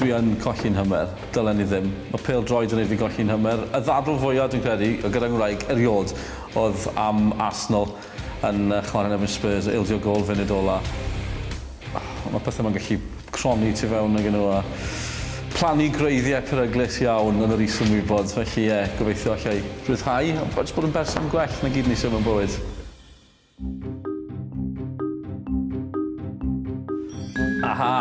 Dwi yn colli'n hymer. Dylen i ddim. Mae pêl-droed yn neud fi golli'n hymer. Y ddadl fwya dwi'n credu gyda ngwraig eriôd oedd am Arsenal. yn chwarae yn erbyn Spurs, ildio gôl funud ola. Mae pethau yma'n gallu cronni tu fewn ag nhw a plannu gwreiddiau peryglus iawn yn yr is-ymwybod. Felly ie, gobeithio alla i ryddhau a jyst bod yn berson gwell, 'na gyd o'n isio mewn bywyd. Aha!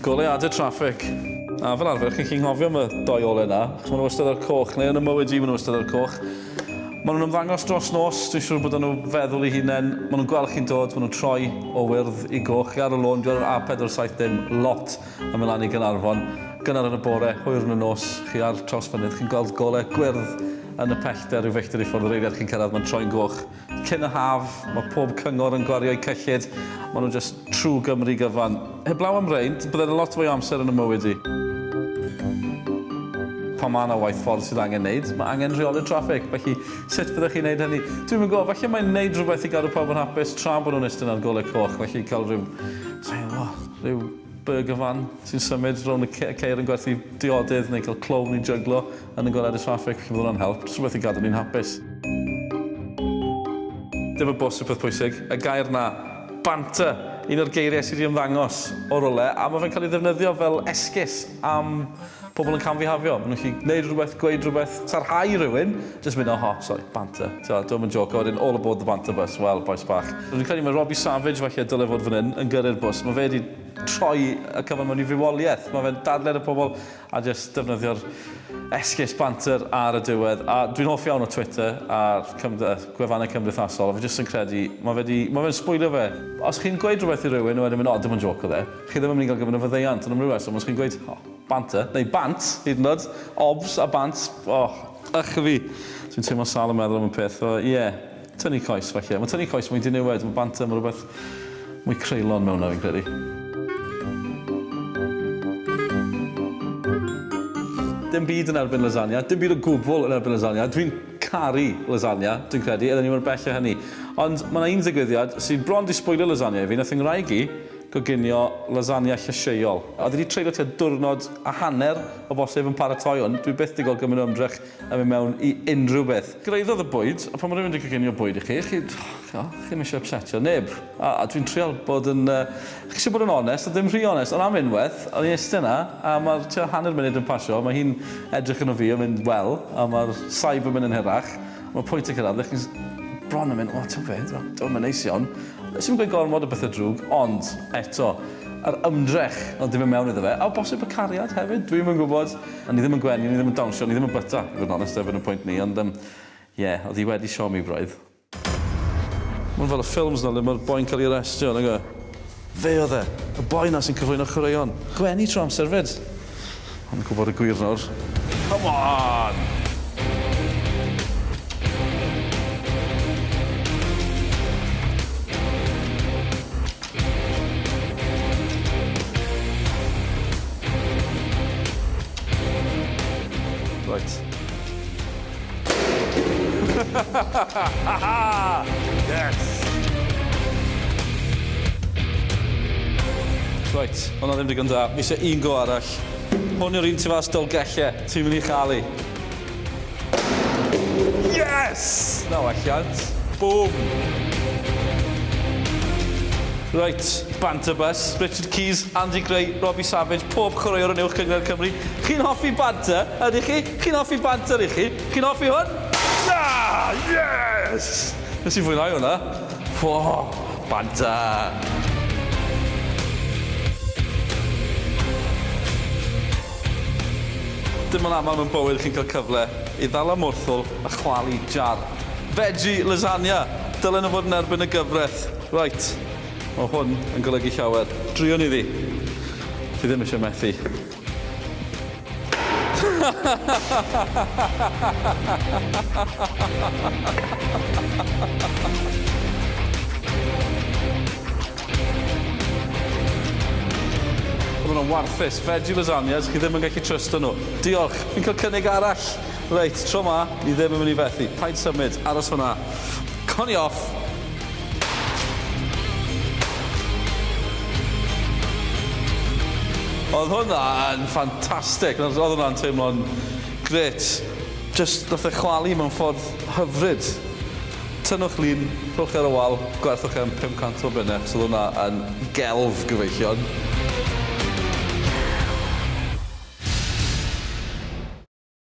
Goleuadau traffig. A fel arfer, chi'n gallu nghofio am y dou ole 'na, achos maen nhw wastad o'r coch, neu yn 'y mywyd i maen nhw wastad o'r coch. Maen nhw'n ymddangos dros nos, dwi'n siŵr bod nhw feddwl i hunain, maen nhw'n gweld chi'n dod, maen nhw'n troi o wyrdd i goch, chi ar y lôn, dwi ar yr A470 lot yn mynd lan i Gaernarfon, gynnar yn y bore, hwyr yn y nos, chi ar Trawsfynydd, chi'n gweld golau gwyrdd yn y pellter rhyw filltir i ffwrdd yr eiliad chi'n cyrraedd, mae'n troi'n goch. Cyn y haf, mae pob cyngor yn gwario'u cyllid, maen nhw jyst true Gymru gyfan. Heblaw am rein, byddai 'na lot fwy o amser yn fy mywyd i. Pan mae 'na waith ffordd sydd angen 'neud, mae angen rheoli'r traffig, felly sut fyddech chi'n 'neud hynny? Dwi'm yn gwybod, falle mai 'neud rhywbeth i gadw pawb yn hapus tra bod nhw'n iste yn yr golau coch, felly cael rhyw, sai'n gwybod, rhyw burger van sy'n symud rownd y ceir yn gwerthu diodydd, neu cael clown i jyglo Yn y goleadau traffig, felly bydd hwnna'n help, jyst rhywbeth i gadw ni'n hapus. Dim y bws yw peth pwysig, y gair 'na, banter! Un o'r geiriau sy' 'di ymddangos o rywle, a ma' fe'n cael ei ddefnyddio fel esgus am pobl yn camfihafio. Maen nhw'n gallu gwneud rhywbeth, gweud rhywbeth, sarhau rhywun, jyst mynd oho, sori, banter. Tibod, dydw i'm yn jôco, wedyn all aboard the banter bus, wel, bois bach. Dwi'n credu mae Robbie Savage falle y dyle fod fan hyn yn gyrru'r bws, mae fe 'di troi y cyfan mewn i fywoliaeth, mae fe'n dadlau 'da pobl, A jyst defnyddio'r esgus banter ar y diwedd. A dwi'n hoff iawn o Twitter a'r gwefannau cymdeithasol, a fi jyst yn credu, mae fe 'di, mae fe'n sbwylio fe. Os chi'n gweud rhywbeth i rywun a wedyn mynd 'O, dim ond jôc oedd e', chi ddim yn mynd i gael gymaint o faddeuant, ond am ryw reswm os chi'n gweud 'O, banter', neu 'bant', hyd yn oed, 'obs' a 'bant', o, ych a fi! Dwi'n teimlo sâl yn meddwl am y peth, so ie. Tynnu coes, falle. Mae tynnu coes mwy diniwed, mae banter, mae rhywbeth mwy creulon mewn na fi'n credu. Dim byd yn erbyn lasagna, dim byd o gwbl yn erbyn lasagna, dwi'n caru lasagna, dwi'n credu, oedden ni mor bell o hynny. Ond mae yna un ddigwyddiad sydd bron 'di sbwylio lasagna i fi, wnaeth fy ngwraig i goginio lasagna llysieuol. Oedd hi 'di treulio tua diwrnod a hanner o bosib yn paratoi hwn, dwi byth 'di gweld gymaint o ymdrech a mynd mewn i unrhyw beth. Gwreiddodd y bwyd, a pan mae rhywun 'di coginio bwyd i chi, chi, ch'mod, chi ddim eisiau ypsetio neb. A, a dwi'n trial bod yn, yy, chi eisiau bod yn onest, ond ddim rhy onest, ond am unwaith, o'n i'n iste 'na, a mae'r tua hanner munud yn pasio, mae hi'n edrych arno fi a mynd, wel, a mae'r saib yn mynd yn hirach, a mae pwynt yn cyrraedd ble chi bron yn mynd, o, ti'n gwybod be, dyw e ddim yn neis iawn. Wnes i'm gweud gormod o bethau drwg, ond, eto, yr ymdrech o ddim mynd mewn iddo fe, a o bosib y cariad hefyd, dwi'm yn gwybod. O'n i ddim yn gwenu, o'n i ddim yn dawnsio, o'n i ddim yn bwyta, i fod yn onest, erbyn y pwynt 'ny, ond yym ie, o'dd 'i wedi siomi braidd. Ma' 'wn fel y ffilms 'na le ma'r boi'n ca'l 'i arestio, nag yw e? Fe o'dd e! Y boi 'na sy'n cyflwyno chwaraeon. Gwenu trwy amser 'fyd. O'n i'n gwbod y gwir nawr. Come on! Reit. yes! Reit, hwnna ddim digon da. Fi eisiau un go arall. Hwn yw'r un tu fas Dolgellau. Ti'n mynd i chael i. Yes! Na welliant. Bwm! Reit, Banter Bus, Richard Keys, Andy Gray, Robbie Savage, pob chwaraewr yn Uwch Gyngor Cymru. Chi'n hoffi banter, ydych chi? Chi'n hoffi banter, ych chi? Chi'n hoffi hwn? Na! Yes! Nes i fwynhau hwnna. Fo, banter! Dim ond aml mewn bywyd chi'n cael cyfle i ddal ymwrthwl a chwalu jar. Veggie lasagna! Dylen nhw fod yn erbyn y gyfraith. Reit, mae hwn yn golygu llawer. Druan iddi. Fi ddim eisiau methu. Oedden nhw'n warthus. Veggie lasagnas, chi ddim yn gallu trysto nhw. Diolch. Fi'n cael cynnig arall. Reit, tro 'ma, ni ddim yn mynd i fethu. Paid symud. Aros fan'na. Co ni off. Oedd hwnna yn ffantastig. Oedd hwnna'n teimlo'n grêt. Jyst, nath e chwalu mewn ffordd hyfryd. Tynnwch lun, rhowch chi ar y wal, gwerthwch e am 500 o bunne achos oedd hwnna yn gelf gyfeillion.